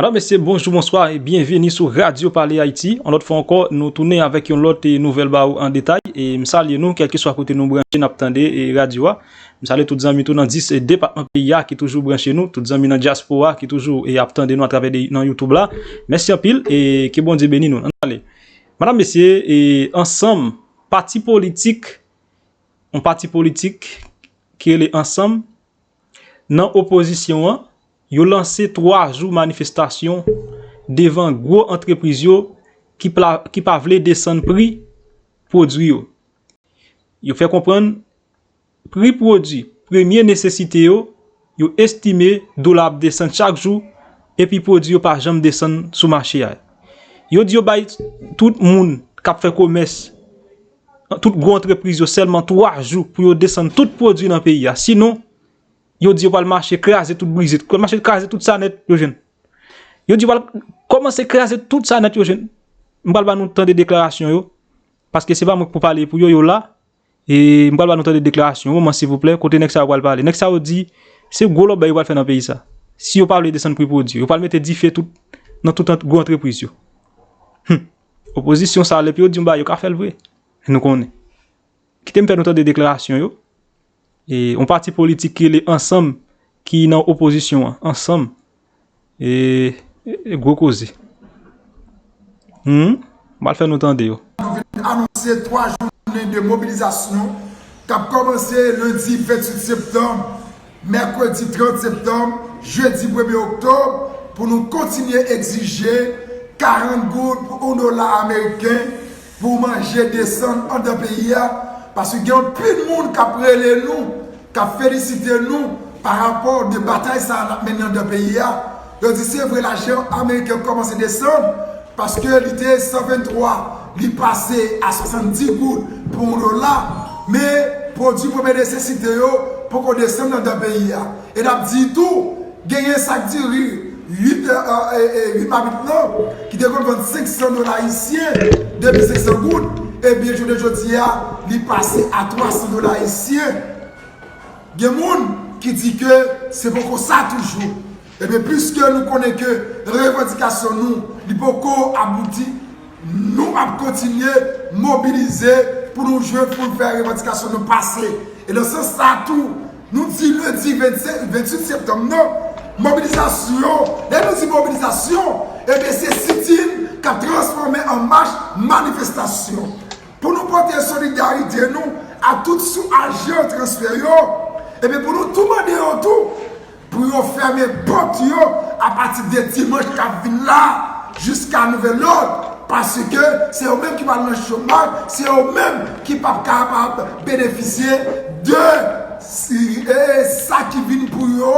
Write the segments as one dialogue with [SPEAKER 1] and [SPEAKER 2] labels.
[SPEAKER 1] Madame, Mesye, bonjou, bonswa, e byenveni sou Radyo Pale Ayiti. Yon lòt fwa ankò, nou tounen avèk yon lòt nouvèl ba ou an detay. E m salye nou, kèlkeswa kote nou branche, n ap tande radyo a. M salye tout zanmi tou nan 10 depatman peyi a ki toujou branche nou, tout zanmi nan dyaspora ki toujou ap tande nou atravè nan Youtube la. Mèsi anpil e ke Bondye beni nou. An nou ale. Madam, mesye, e ansanm, pati politik, yon pati politik ki rele ansanm, Nan opozisyon an, yo lanse 3 jou manifestasyon devan gwo antrepriz yo ki pa vle desann pri pwodwi yo. Yo fè konprann pri pwodwi premye nesesite yo, yo estime dola ap desann chak jou epi pwodwi yo pa janm desann sou mache a. Yo di yo bay tout moun k ap fè komès. tout gwo antrepriz yo sèlman 3 jou pou yo desann tout pwodui nan peyi a. Sinon, yo di yo pral mache kraze tout brize, pral mache kraze tout sa nèt yo jwenn. Yo di yo pral kòmanse kraze tout sa nèt yo jwenn. M pral ba nou tande deklarasyon yo, paske se pa mwen ki pou pale pou yo, yo la. E m pral ba nou tande deklarasyon yo, man silvouplè, kote nèg sa yo pral pale. Nèg sa yo di, se gwo lòbèy yo pral fè nan peyi sa. Si yo pa vle desann pri pwodui yo, yo pral mete dife tout nan tout gwo antrepriz yo. Hum! Opozisyon sa lepi yo di yon bagay yo ka fèl vre nou konnen kitem fè nou tande deklarasyon yo e yon pati politik ki rele ansanm ki nan opozisyon an ansanm e gwo koze humm mal fè nou tande yo. Yo vin anonse 3
[SPEAKER 2] jounen de mobilizasyon kap kòmanse lendi 28 septanm Mèkredi 30 septanm, jedi premye oktob, pou nou kontinye egzije 40 goud pou 1 dola ameriken pou manje desann andan peyi a, paske gen anpil moun k ap rele nou, k ap felisite nou pa rapò de batay sa a n ap mennen andan peyi a. Yo di se vre lajan ameriken an kòmanse desann paske li te 123 li pase a 70 goud pou yon dola men pwodwi premye nesesite yo poko desann andan peyi a e nap di tou genyen sak diri 8 mamit lan ki te konn vann 500 dola ayisyen 2500 goud ebyen jounen jodi a li pase a 300 dola ayisyen. Gen moun ki di ke se poko sa toujou. Ebyen puiske nou konnen ke revandikasyon nou li poko abouti, nou ap kontinye mobilize pou nou jwenn pou nou fè revandikasyon nou pase. E nan sans sa tou, nou di lendi 28 septanm nan, mobilizasyon, lè nou di mobilizasyon, ebyen se sitin kap transfòme an mach manifestasyon. Pou nou pote solidarite nou a tout sou ajan transfè yo, epi pou nou tou mande yo tou pou yo fèmen pòt yo apati de dimanch kap vin la jiska nouvèl lòd, paske se yo menm ki pral nan chomaj, se yo menm ki pap kapab benefisye de sa ki vin pou yo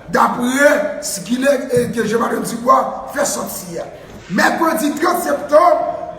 [SPEAKER 2] dapre sikilè ke Jean Mado Dubois fè sòti a. Mèkredi 30 septanm.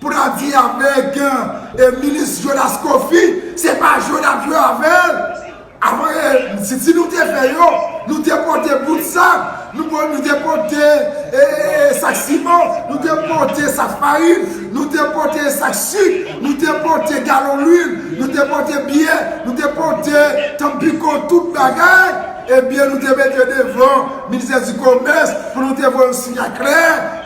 [SPEAKER 2] Pou ta di ya beg e minis jonas kofi se pa jwe nap jwe avel avan e siti nou te fè yo nou te pote bout sak nou pot nou te pote e sak siman nou te pote sak farin nou te pote e sak sik nou te pote galon lwil nou te pote biyè nou te pote tanpiko tout bagay Ebyen nou te mete devan ministè di komès pou nou te voye yon sinyal klè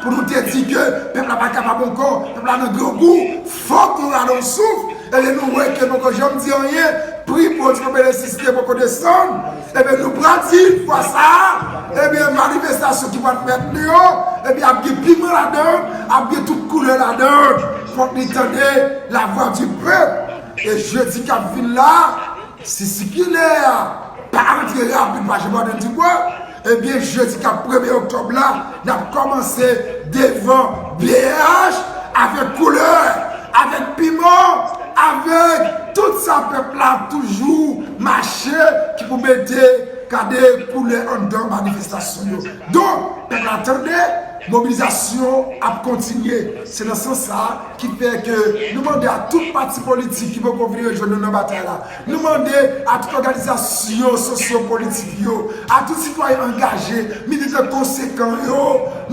[SPEAKER 2] pou nou te di ke pèp la pa kapab ankò, pèp la nan grangou, fòk nou rale yon souf, ebyen nou wè ke nou poko janm di anyen, pri pwodui kòm elektrisite poko desann, ebyen nou pral di fwa sa a, ebyen manifestasyon ki pral fèt li yo, ebyen ap gen piman ladan, ap gen tout koulè ladan, fòk li tande lavwa di pèp, e jedi kap vin la. Si sikilè a pa antre rapid pa Jpodèn Dikwa, ebyen jedi kap premye oktòb la nap kòmanse devan bnh avèk koulè, avèk piman, avèk tout sa pèp la ap toujou mache ki pou mete gade koulè anndan manifestasyon yo. Donk pèp la tande, mobilizasyon ap kontinye. Se nan sans sa. Ki fè ke nou mande a tout pati politik ki poko vin rejwenn nou nan batay la, nou mande a tout òganizasyon sosyo politik yo, a tout sitwayen angaje, militan konsekan yo,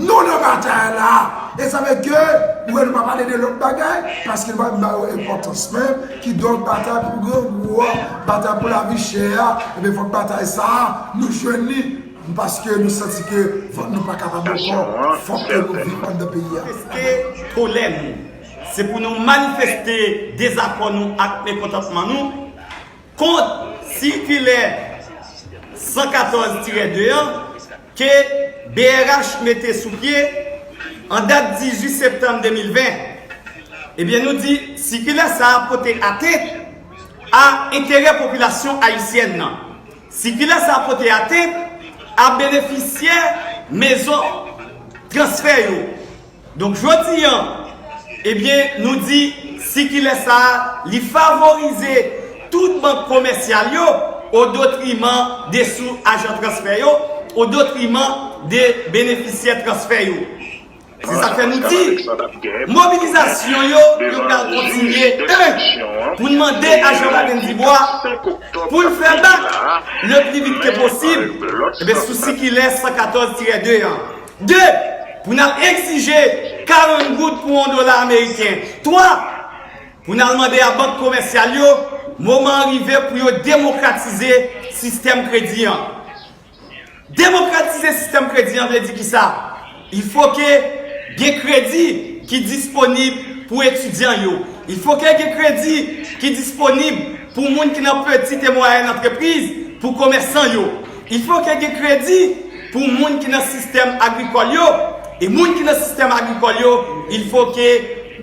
[SPEAKER 2] nou nan batay la! E sa fè ke ou wè nou pa pale de lòt bagay, paske nou pa vin ba yo enpòtans men, kidonk batay pou grangou a, batay pou lavi chè a, enben fòk batay sa a nou jwenn li. Paske nou santi ke vant nou pa kapab ankò, fòk ke nou viv anndan peyi a. Manifeste kolè nou. Se
[SPEAKER 3] pou nou manifeste dezakò nou ak mekontantman nou kont sikilè 114 tirè 2 an ke brh mete sou pye an dat 18 septanm 2020. Ebyen nou di sikilè sa a pote atent a enterè popilasyon ayisyèn nan. Sikilè sa pote atent a benefisyè mezon transfè yo. Donk jodi an, ebyen nou di sikilè sa li favorize tout bank komèsyal yo odotriman de sou ajan transfè yo, odotriman de benefisyè transfè yo. Se sa k fè nou di, mobilizasyon yo yo pral kontinye. 1. Pou n mande a Jean Baden Dubois pou l fè bak le pli vit ke posib sou sikilè 114 tirè 2 an. 2. Pou n al egzije 40 goud pou on dola ameriken. 3. Pou n al mande a bank komèsyal yo moman an rive pou yo demokratize sistèm kredi an. Demokratize sistèm kredi an vle di kisa? Il faut ke gen kredi ki disponib pou etidyan yo. Il faut ke gen kredi ki disponib pou moun ki nan petit et moyenne entreprise, pou komèsan yo. Il faut ke gen kredi pou moun ki nan sistèm agrikòl yo. E moun ki nan sistèm agrikòl yo, il faut ke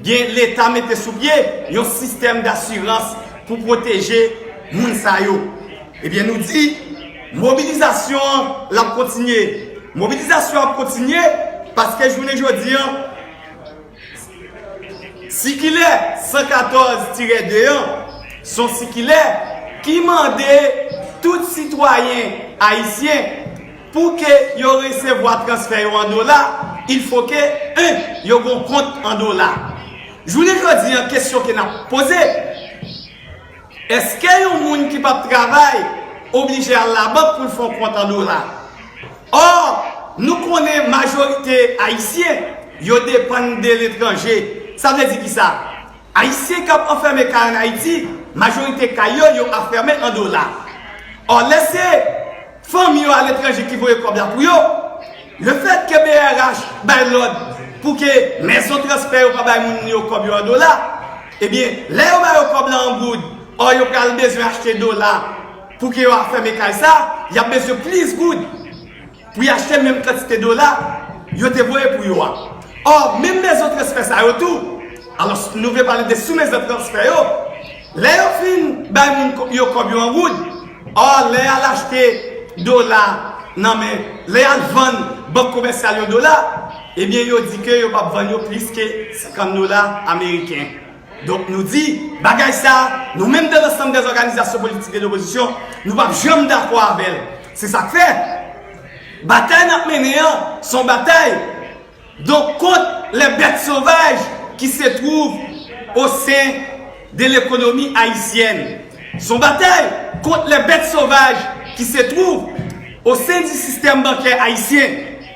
[SPEAKER 3] gen leta mete sou pye yon sistèm d'assurance pou pwoteje moun sa yo. Ebyen nou di mobilizasyon an lap kontinye. Mobilizasyon an ap kontinye paske jounen jodi an sikilè 114 tirè 2 an son sikilè ki mande tout sitwayen ayisyen pou ke yo resevwa transfè yo an dola il fo ke 1 yo gon kont an dola. Jounen jodi an kesyon ke nap poze. Eske yon moun ki pap travay oblije al labank pou l fè yon kont an dola? Or, nou konnen majorite Ayisyen yo depann de letranje. Sa vle di kisa? Ayisyen k ap anfème kay an Ayiti, majorite kay yo, yo afème an dola. Or, lè se. Fanmi yo aletranje ki voye kòb la pou yo. Le fèt ke brh bay lòd pou ke mezon transfè yo pa bay moun yo kòb yo an dola, ebyen lè yo ba yo kòb la an goud, ò yo pral bezwen achte dola pou ke yo afème kay sa, y ap bezwen plis goud pou y achte menm kantite dola yo te voye pou yo a. Ò menm mezon transfè sa yo tou, alòs nou vle pale de sou mezon transfè yo, Lè yo fin bay moun yo kòb yo an goud, or lè y'al achte dola nan men, lè y'al vann bank komèsyal yo dola, ebyen yo di ke yo p'ap vann yo plis ke 50 dola ameriken. Donk nou di, bagay sa, nou menm de l'ensemble des organisations politiques de l'opposition, nou p'ap janm dakò avè'l. Se sak fè, batay n'ap mennen an, son batay. Donk kont les bêtes sauvages ki se twouv o sen de lekonomi ayisyèn. S on batay kont les bêtes sauvages ki se twouv o sen di sistèm bankè ayisyen.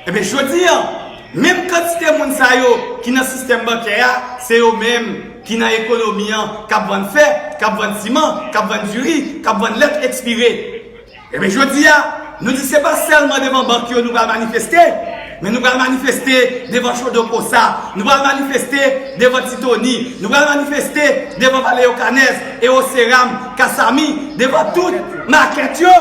[SPEAKER 3] Enben jodi an, menm kantite moun sa yo ki nan sistèm bankè a, se yo menm ki nan ekonomi an k ap vann fè, k ap vann siman, k ap vann diri, k ap vann lèt ekspire. Ebyen jodi a, nou di se pa sèlman devan bank yo nou pral manifeste, men nou pral manifeste devan Chodo Kosa, nou pral manifeste devan Ti Toni, nou pral manifeste devan Valeyokanèz, Ewoseram, Kasami, devan tout makèt yo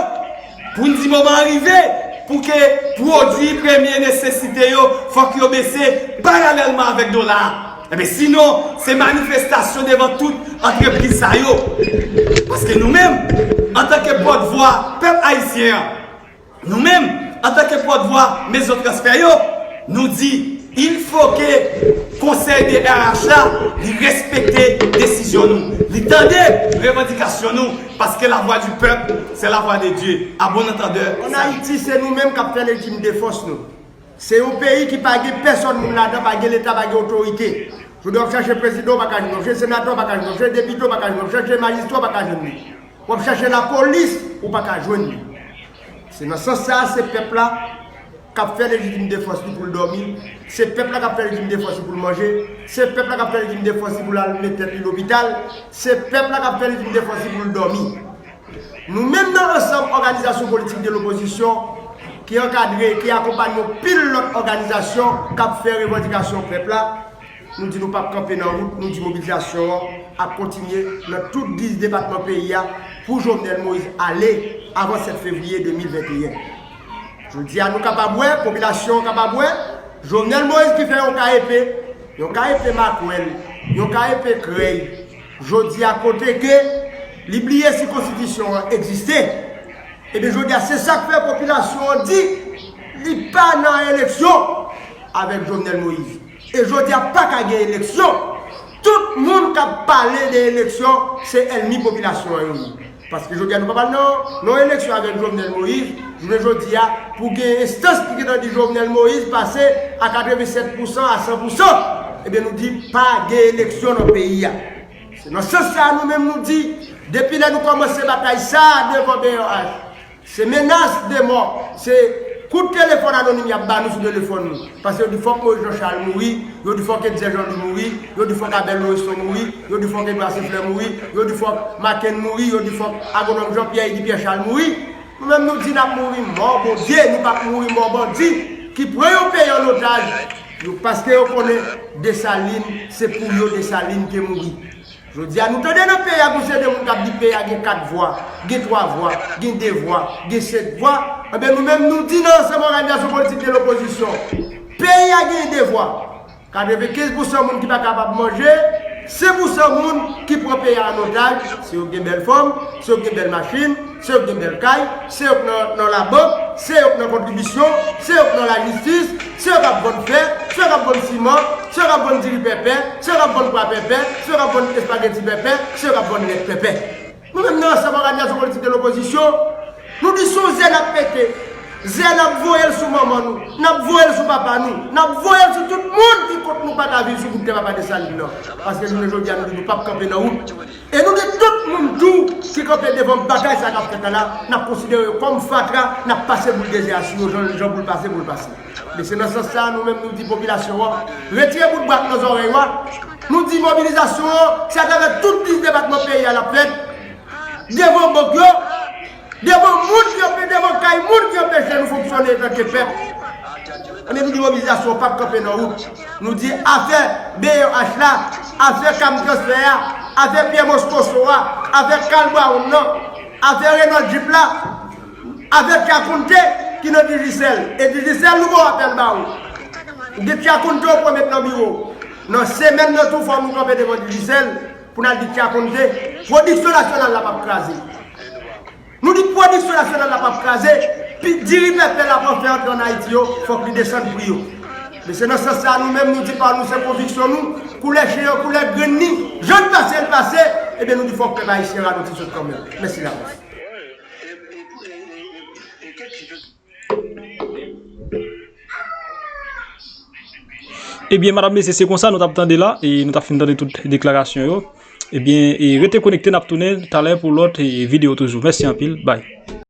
[SPEAKER 3] pou n di moman an rive pou ke pwodui premye nesesite yo fòk yo bese paralèlman avèk dola a. Ebyen sinon se manifestasyon devan tout antrepriz sa yo. Paske nou menm, antanke pòt vwa pèp ayisyen an, nou menm, antanke pòt vwa mezon transfè yo, nou di il fo ke konsèy DRH la li respekte desizyon nou. Li tande revandikasyon nou paske la vwa di pèp se la vwa
[SPEAKER 4] de
[SPEAKER 3] Dye.
[SPEAKER 4] A
[SPEAKER 3] bon
[SPEAKER 4] antandè, salut.
[SPEAKER 3] An Ayiti se
[SPEAKER 4] nou menm
[SPEAKER 3] kap
[SPEAKER 4] fè
[SPEAKER 3] legim
[SPEAKER 4] de
[SPEAKER 3] fòs
[SPEAKER 4] nou. Se yon peyi ki pa gen pèsòn moun ladan, pa gen leta, pa gen otorite. Jodia wap chache prezidan ou pa ka jwenn li, wap chache senatè ou pa ka jwenn li, wap chache depite ou pa ka jwenn li, wap chache majistra ou pa ka jwenn li, wap chache lapolis ou pa ka jwenn li. Se nan sans sa a se pèp la kap fè lejitim defans li poul dòmi, se pèp la kap fè lejitim defans li poul manje, se pèp la kap fè lejitim defans li poul al met tèt li lopital, se pèp la kap fè lejitim defans li poul dòmi. Nou menm nan ansanm òganizasyon politik de lopozisyon ki ankadre, ki akonpanye yon pil lòt òganizasyon k ap fè revandikasyon pèp la, nou di nou pap kanpe nan wout, nou di mobilizasyon an ap kontinye nan tout 10 depatman peyi a pou Jovenel Moïse ale avan 7 fevriye 2021. Jodi a nou kapab wè, popilasyon an kapab wè, Jovenel Moïse ki fè yon ka epe, yon ka epe makwèl, yon ka epe krèy, Jodi a kote ke li bliye si konstitisyon an egziste, ebyen jodi a se sak fè popilasyon an di li pa nan eleksyon avèk Jovenel Moïse. E jodi a pa ka gen eleksyon, tout moun kap pale de eleksyon se èlmi popilasyon an yo ye. Paske jodi a nou pa pral nan yon eleksyon avèk Jovenel Moïse, jounen jodi a pou gen enstans ki gentan di Jovenel Moïse pase a 87 pou san a 100 pou san, ebyen nou di pa gen eleksyon nan peyi a. Se nan sans sa a nou menm nou di depi lè nou kòmanse batay sa a devan BRH, Se menas de mò, se Kout telefòn anonim yap ba nou sou telefòn nou. Pase yo di fòk Moïse Jean Charles mouri, yo di fòk Etzer Jean Louis mouri, yo di fòk Abel Loreston mouri, yo di fòk Edouard Cenfleur mouri, yo di fòk Macken mouri, yo di fòk Agronòm Jean Pierre Eddy Pierre Charles mouri. Nou menm nou di nap mouri mò Bondye, nou pap mouri mò bandi ki pran yon peyi an otaj, yo paske yo konnen Dessalines se pou yo Dessalines te mouri. Jodi a nou tande nan peyi a gon seri de moun kap di peyi a gen 4 vwa, gen 3 vwa, gen 2 vwa, gen 5 vwa, anben nou menm nou di nan ansanm òganizasyon politik de lopozisyon peyi a gen 2 vwa. 95 pou san moun ki pa kapab manje, 5 pou san moun ki pran peyi a an otaj, se yo ki gen bèl fòm, se yo ki gen bèl machin, Se yo k gen bèl kay, se yo k nan labank, se yo k nan kontribisyon, se yo k nan lajistis, se yo k ap vann fè, se yo k ap vann siman, se yo k ap vann diri pèpè, se yo k ap vann pwa pèpè, se yo k ap vann espageti pèpè, se yo k ap vann lèt pèpè. Nou menm nan Ansanm Òganizasyon Politik de Lopozisyon, nou di s on ze n ap mete, ze a n ap voye l sou manman nou, n ap voye l sou papa nou, n ap voye l sou tout moun ki kont nou pa ka viv sou bout tè Papa Desalin nan. Paske jounen jodi a nou di nou p ap kanpe nan wout. E nou gen tout moun tou ki kanpe devan bagay sa kap fèt la la, nap konsidere yo kòm fatra, nap pase boul dezè a sou yo jan jan pou l pase pou l pase. Men se nan sans sa a nou menm nou di popilasyon an, retire bout bwa k nan zòrèy ou a, nou di mobilizasyon an se atravè tout 10 depatman peyi a lap fèt, devan bank yo, Devan moun yo vle devan kay moun yo bezwen nou fonksyone tanke pèp an epi di mobilizasyon pap kanpe nan wout nou di afè BOH la afè cam transfè a afè pyè moscosso a afè Carl Brown nan afè Renold Jup la afè Tiakounte ki nan Digicel e Digicel nou bon apèl ba ou ou gen Tiakounte ou pran met nan biwo w nan semèn nan tou fò nou kanpe devan Digicel. Pou n al di Tya konn jwe, pwodiksyon nasyonal la pap kraze. Nou di pwodiksyon nasyonal la pap kraze, pi diri pèpè la pran fè antre an Ayiti yo, fòk li desann pri yo. Men se nan sans sa a nou menm nou di pa nou se konviksyon nou, koulè chen an koulè grenn ni, jan l pase l pase, ebyen nou di fòk pèp ayisyen ralonti sot kanmenm. Mèsi davans.
[SPEAKER 1] Ebyen madam mesye se konsa nou tap tande la e nou tap fin tande tout deklarasyon yo ebyen rete konekte nap tounen talè pou lòt videyo toujou mèsi anpil bay.